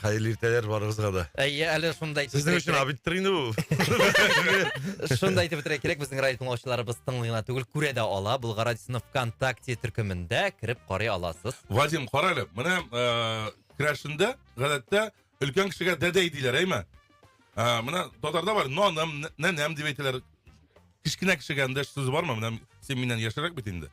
Хәерле иртәләр барыгызга да. Әйе, әле шуны да әйтеп Сезнең өчен абидтыр инде бу. Шуны да әйтеп үтәргә кирәк, безнең радио тыңлаучыларыбыз тыңлый гына түгел, күрә дә ала. Болгар радиосының ВКонтакте төркемендә кереп карый аласыз. Вадим, кара әле, менә э, керәшендә, гадәттә, өлкән кешегә дәдәй диләр, әйме? Ә, э, менә татарда бар, наным, нәнәм дип әйтәләр. Кечкенә кешегә эндәш сүз бармы? Менә син миннән яшәрәк бит инде.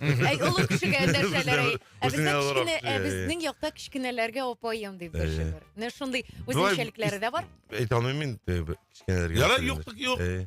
Әй, олы кешегә нәрсәләр әй. Ә Үзеңә бездә азрак, кечкенә, ә э, безнең якта кечкенәләргә апаем дип дәшә Әйе. бер. Менә шундый үзенчәлекләре дә бар. Әйтә алмыйм мин э, б- кечкенәләргә. Ярар, Э, юктык юк. э,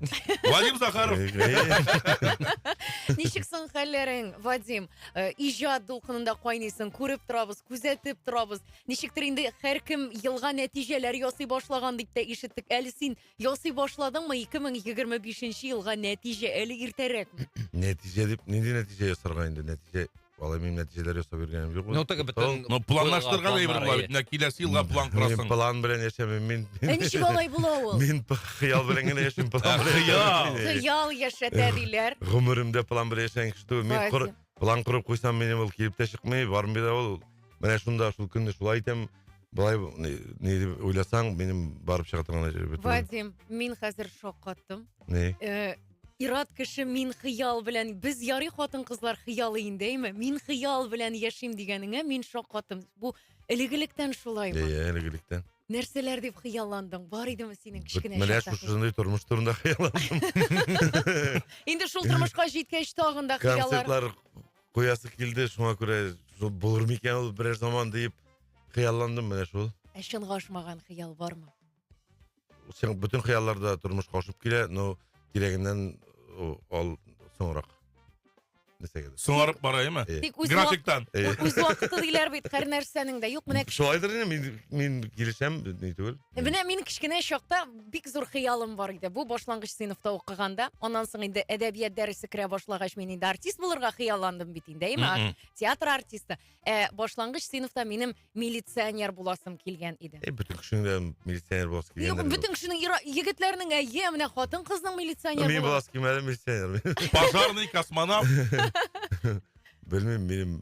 Вадим Захаров. э, э. Ничек соң хәлләрең, Вадим? Э, Иҗат дулкынында кайныйсың, күреп торабыз, күзәтеп торабыз. Ничектер инде һәркем елга нәтиҗәләр ясый башлаган дип тә ишеттек. Әле син Ясый башладыңмы 2025 нче елга нәтиҗә әле иртәрәк. Нәтиҗә дип, нинди нәтиҗә ясарга инде, нәтиҗә, алай мин нәтиҗәләр ясап йөргәнем юк. Ну, теге бөтен... Ну, планлаштырган әйбер була бит, менә киләсе елга план Мин корасың. план белән яшәмим, мин... Ә ничек алай була ул? Мин п- хыял белән генә яшим, план Ә, белән хыял. яшәмим мин. Хыял яшәтә диләр. Гомеремдә план белән яшәгән кеше түгел. Мин Вася. кор- план корып куйсам, минем ул килеп тә чыкмый, бармый да ул. Менә шунда, шул көнне шулай итәм, былай не, не дип уйласаң минем барып чыга торган әҗәбе түгел. Вадим, мин хәзер шок каттым. не Э, Ират кеше мин хыял белән, без ярый хатын кызлар хыялы инде, әйме? Мин хыял белән яшим дигәнеңә мин шок каттым. Бу элегелектән шулаймы? иә элегелектән Нәрсәләр дип хыялландың? Бар идеме синең кечкенә менә чакта? шушындый тормыш турында хыялландым Инде шул тормышка җиткәч тагын да хыяллар. концертлар куясы килде шуңа күрә булыр микән ул берәр заман диеп хыялландым менә шул ә чынга ашмаган хыял бармы син бөтен хыяллар да тормышка ашып килә но кирәгеннән ал соңрак соңарып бара ма тик үз графиктан үз вакыты диләр бит һәр нәрсәнең дә юк менә шулайдыр инде мин килешәм ни түгел Менә мин кечкенә чакта бик зур хыялым бар иде. Бу башлангыч сыйныфта укыганда, аннан соң инде әдәбият дәресе керә башлагач, мин инде артист булырга хыялландым бит инде, әйме? Мгм. Театр артисты. Ә башлангыч сыйныфта минем милиционер буласым килгән иде. Эй, бөтен кешенең дә милиционер буласы Юк, килгәндер. бөтен кешенең ира- егетләрнең әйе, менә хатын-кызның милиционер Мин булу. буласы килмәде милиционер. Пожарный, космонавт. Белмим, минем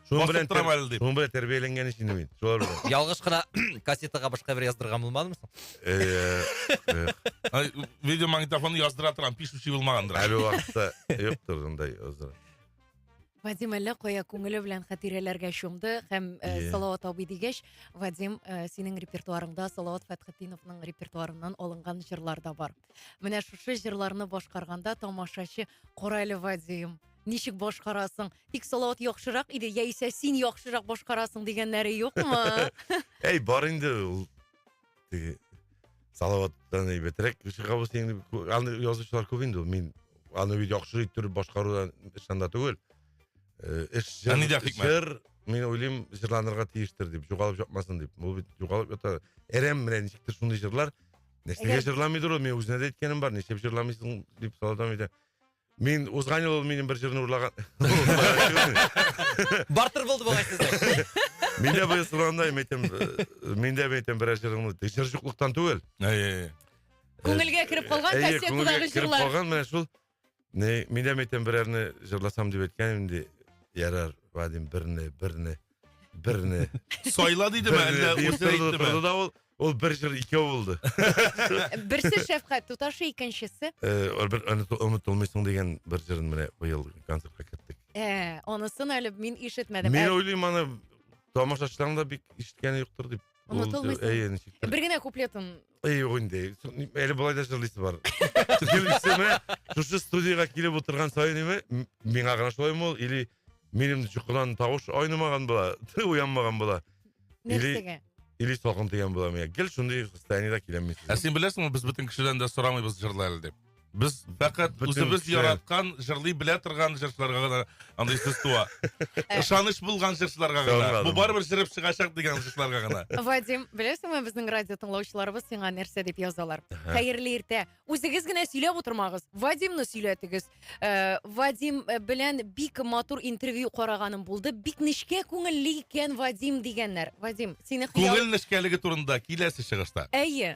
Шуның белән, Бастырып торам әле дип. шуның белән тәрбияләнгән өчен мин. Шулар белән. Ялгыш кына кассетага башка бер яздырган булмадымы соң? Э, э, Ай, Видеомагнитофонны яздыра торам, пишучи булмагандыр. Әле вакытта юктыр андай озыр. Вадим әллә кая күңеле белән хатирәләргә чумды һәм э, Е. Салават абый дигәч, Вадим, э, синең репертуарыңда Салават Фәтхетдиновның репертуарыннан алынган җырлар да бар. Менә шушы җырларны башкарганда тамашачы кара әле Вадим, ничек башкарасың? Тик Салават яхшырак иде, яисә син яхшырак башкарасың дигәннәре юкмы? Әй, бар инде ул. Теге Салаваттан әйбәтрәк чыга булса инде. Аны язучылар күп инде ул. Мин аны бит яхшы иттереп башкарудан ышан да түгел. Э, Эш Ә җыр, нидә хикмәт? җыр, мин уйлыйм, җырланырга тиештер дип, югалып җапмасын дип. Ул бит югалып ята. Әрәм менә ничектер шундый җырлар. Нәрсәгә Әгәр- җырламыйдыр ул? Мин үзенә дә әйткәнем бар. Нишләп җырламыйсың дип Салаваттан әйтә. Мин узган ел ул минем бер җырны урлаган. Бартер булды бугай сездә. Мин дә быел сораганда мин әйтәм, э, мин дә әйтәм берәр җырыңны. Тик Җыр юклыктан түгел. Әйе. Күңелгә кереп калган Әйе, күңелгә кассетадагы кереп җырлар. калган менә шул. Не, мин дә әйтәм берәрне җырласам дип әйткән инде. Ярар, Вадим, берне, берне. Берне. Сайла дидеме, Берне әллә диеп үзе торды, әйттеме? торды да ул, ул бер җыр икәү булды. Берсе шәфкать, туташы икенчесе. Э, ул бер оныту- онытылмыйсың дигән бер җырын менә быел концертка керттек. Ә, анысын әле мин ишетмәдем. Мин Ә, уйлыйм аны тамашачыларның да бик ишеткәне юктыр дип. Ул- Онытылмыйсың. Әйе, ничектер. Бер генә куплетын Ый, юк инде. Әле болай да җырлыйсы бар. Икенчесе, шушы студиягә килеп утырган саен име, миңа гына шулаймы ул, или минем чукыдан тавыш айнымаган була, уянмаган була. Нәрсәгә? Или салкын тигән була миңа. Гел шундый состояниедә киләм мин. Ә син беләсеңме, без бөтен кешедән дә сорамыйбыз җырла әле дип. Без фәкать Бөтен үзебез кеше. яраткан, җырлый белә торган җырчыларга гына андый сүз туа. Ышаныч булган җырчыларга гына. Соңрак. Бу барыбер җырып чыгачак дигән җырчыларга гына. Вадим, беләсеңме, безнең радио тыңлаучыларыбыз сиңа нәрсә дип язалар? Хәерле иртә. Үзегез генә сөйләп утырмагыз. Вадимны сөйләтегез. Э, Вадим э, белән бик матур интервью караганым булды. Бик нечкә күңелле икән Вадим дигәннәр. Вадим, сине хыял... Күңел нечкәлеге турында киләсе чыгышта. Әйе.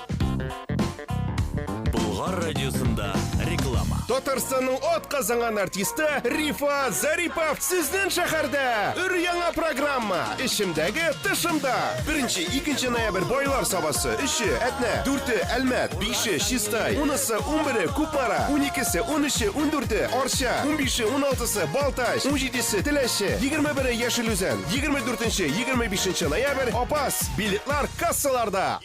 Болгар радиосында реклама. Татарстанның от казанган артисты Рифа Зарипов сезнең шәһәрдә. Өр яңа программа. Эчемдәге тышымда. Беренче, икенче ноябрь байлар сабасы. Өче, Әтнә. Дүрте, Әлмәт. Бише, Чистай. Унысы, унбере, Купмара. Уникесе, унөче, ундүрте, Арча. Унбише, уналтысы, Балтач. Унҗидесе, Теләче. Егерме бере, Яшел Үзән. Егерме дүртенче, егерме бишенче ноябрь, Апас. Билетлар кассаларда.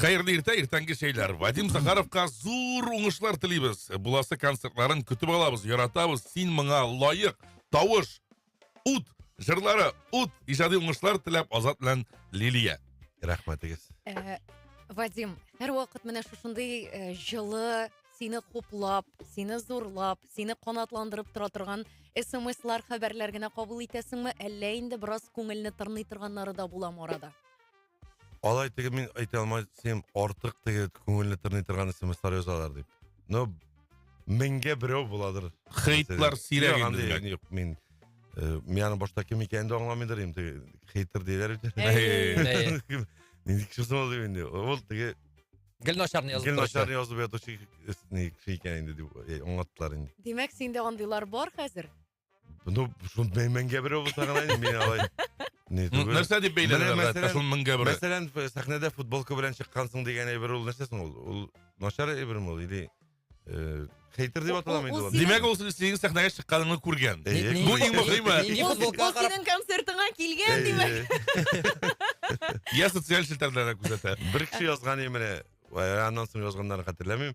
Хәерле иртә, иртәнге шәйләр. Вадим Захаровка зур уңышлар телибез. Буласы концертларын көтеп алабыз, яратабыз. Син моңа лаек. Тавыш, ут, жырлары, ут, иҗади уңышлар теләп Азат белән Лилия. Рәхмәтегез. Э, Вадим, һәр вакыт менә шушындый э, җылы, сине хуплап, сине зурлап, сине канатландырып тора торган смслар, хәбәрләр генә кабул итәсеңме, әллә инде бераз күңелне тырный торганнары да буламы арада? Алай теге мин әйтә алмай син артык теге күңелне тырный торган смслар язалар дип. Но меңгә берәү буладыр. Хейтлар сирәк инде. Юк, юк, мин э, мин аны башта кем икәнен дә аңламыйдыр инде. Хейтер диләр бит. Нинди кеше соң ул инде? Ул теге Гел начарны язып Гел начарны язып ятучы кеше икән инде дип э, аңлаттылар инде. Димәк, синдә андыйлар бар хәзер? Ну, шуны мен- меңгә берәү булса гына инде мин алай. Не, Ну, түгел. Нәрсә дип Менә бәйләнә? мәсәлән- Мәсәлән, шуны меңгә бер. Мәсәлән, ф- сәхнәдә футболка белән чыккансың дигән әйбер ул нәрсә соң ул? Ул начар әйберме ул или э, хейтер дип Ул- аталамы инде ул ул? синең- Димәк, ул синең сәхнәгә чыкканыңны күргән. Әйе. Ни- Бу ни- иң мөһиме. ни- ни- Ул футболка ул карап- синең концертыңа килгән, Әйе. димәк. Я социаль челтәрләрдә күзәтә. Бер кеше язган иде менә, ә, аннан соң язганнарын хәтерләмим.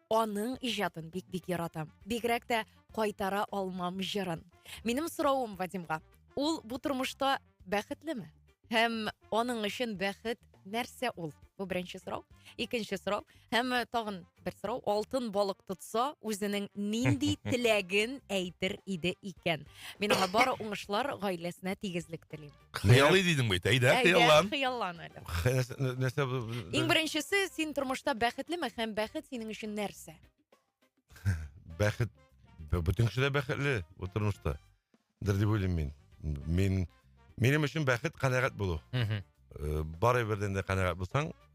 аның иҗатын бик бик яратам бигрәк тә кайтара алмам җырын минем соравым вадимга ул бу тормышта бәхетлеме һәм аның өчен бәхет нәрсә ул бу беренче сорау икенче сорау һәм тагын бер сорау алтын балык тотса үзенең нинди теләген әйтер иде икән мин аңа бары уңышлар гаиләсенә тигезлек телим Хыялый дидең бит, әйдә, хыяллан. Хыяллан әле. Нәрсә бу? Иң беренчесе, син тормышта бәхетлеме һәм бәхет синең өчен нәрсә? Бәхет бөтен кеше дә бәхетле бу тормышта. Дер дип уйлыйм мин. Мин минем өчен бәхет канәгать булу. Мхм. Э, Барыбердән дә канәгать булсаң,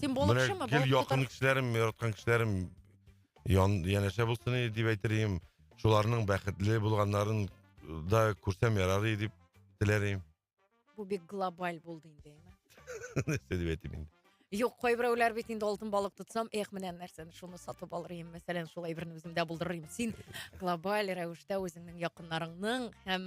Син Менә балыкчымы? гел Балык якын тотар- кешеләрем, яраткан кешеләрем ян, янәшә булсын иде дип әйтер идем. Шуларның бәхетле булганнарын да күрсәм ярар иде дип теләр идем. Бу бик глобаль булды инде, әйме. Нәрсә дип әйтим инде. Юк, кайберәүләр бит инде алтын балык тотсам, эх, менә нәрсәне шуны сатып алыр идем, мәсәлән, шулай берне үземдә булдырыр идем. Син глобаль рәвештә үзеңнең якыннарыңның һәм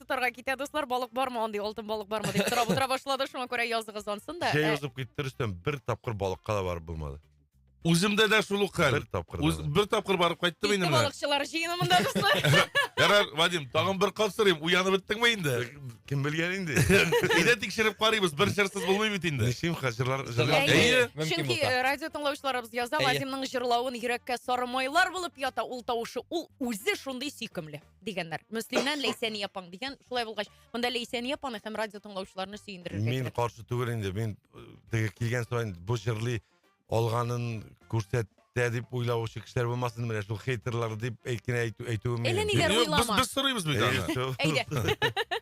тотарга китә, дуслар, балык бармы, андый алтын балык бармы дип сорап утыра башлады, шуңа күрә языгыз ансын да. Җәй ә- узып китте, Рөстәм, бер тапкыр балыкка да барып булмады. Үземдә дә шул ук хәл. Бер тапкыр да Үз- булмады. Бер тапкыр барып кайттым Китте инде менә. балыкчылар җыенымында, дуслар. Ярар, Вадим, тагын бер кат сорыйм, уянып беттеңме инде? Кем белгән инде? Әйдә тикшереп карыйбыз, бер чырсыз булмый бит инде. Ничим хәзерлар җырлап Әйе. Әйе. Мөмкин Чөнки булса. э, радио тыңлаучыларыбыз яза, Әйе. Вадимның җырлавын йөрәккә сары майлар булып ята, ул тавышы, ул үзе шундый сөйкемле. дигәннәр. Мөслимнән Ләйсәния апаң дигән. Шулай булгач, монда Ләйсәния апаны һәм радио тыңлаучыларны сөендерергә Мин кирәк. каршы түгел инде. Мин э, теге килгән саен бу җырлый алганын күрсәтә дип уйлаучы кешеләр булмасын, менә шул хейтерлар дип әйткән әйтү әйтүем. Әллә ниләр Юк, без, уйлама. без сорыйбыз бит аны. Әйдә.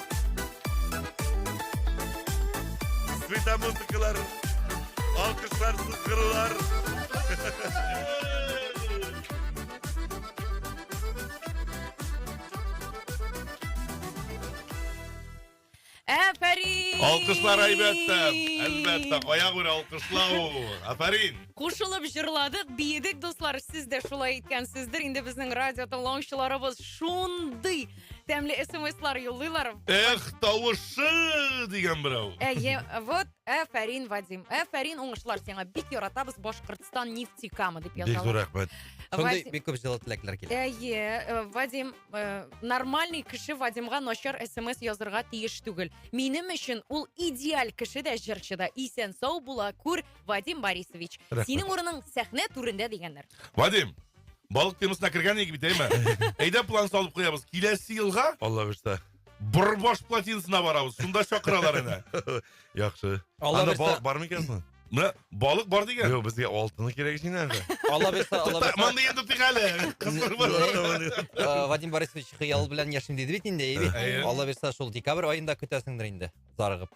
Света музыкалар, алкышлар, сызгырулар. Әфәрин! Алкышлар әлбәттә, әлбәттә, кая күрә алкышлау. Әфәрин! Кушылып җырладык, биедек, дуслар, сез дә шулай иткәнсездер. Инде безнең радио тыңлаучыларыбыз шундый Тәмле смслар юллыйлар. Эх, тавышы дигән берәү. Әйе, вот Әфәрин, Вадим. Әфәрин, уңышлар сиңа. Бик яратабыз Башкортстан нефтекамы дип Бик зур язалар. рәхмәт. Шундый Вадим- бик күп җылы теләкләр килә. Әйе, э, Вадим, э, нормальный кеше Вадимга начар смс язырга тиеш түгел. Минем өчен ул идеаль кеше дә, җырчы да. Исән сау була күр, Вадим Борисович. Рәхмәт. Синең урының сәхнә түрендә дигәннәр. Вадим, Балык темасына кергән идек бит, әйме? Әйдә план салып куябыз. Киләсе елга Алла бирса. Борбаш плотинасына барабыз. Шунда чакыралар әнә. Яхшы. Алла Анда бирса- балык бармы икән соң? Менә балык бар дигән. Юк, безгә алтыны кирәк син әле. Алла бирса, Алла бирса. Монда енді тыйк әле. Кызлар бар. Э, Вадим Борисович хыял белән яшим диде бит инде, әйе бит? Әйе. Алла бирса, шул декабрь аенда көтәсеңдер инде, зарыгып.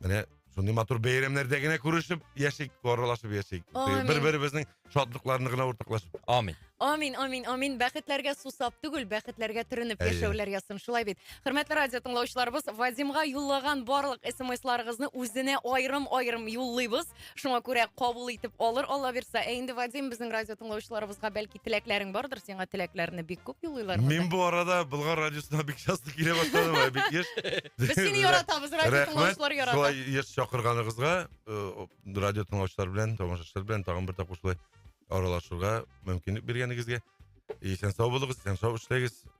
Менә шундый матур бәйрәмнәрдә генә күрешеп яшик, аралашып яшик. Амин. Бер-беребезнең шатлыкларына гына уртаклашып. Амин. Амин, амин, амин. Бәхетләргә сусап түгел, бәхетләргә төренеп Әйе. яшәүләр язсын. Шулай бит. Хөрмәтле радио тыңлаучыларыбыз, Вадимга юллаган барлык смсларыгызны үзенә аерым-аерым юллыйбыз. Шуңа күрә кабул итеп алыр Алла бирса. Ә инде Вадим безнең радио тыңлаучыларыбызга бәлки теләкләрең бардыр, сиңа теләкләрне бик күп юллыйлар. Мин бу арада Болгар радиосына бик часто килә башладым, ә бик еш. Без сине яратабыз, радио тыңлаучылар ярата. Шулай еш чакырганыгызга, э, радио тыңлаучылар белән, тамашачылар белән тагын бер тапкыр шулай аралашырга мөмкинлек биргәнегезгә. Исән сау булыгыз, исән сау эшләгез.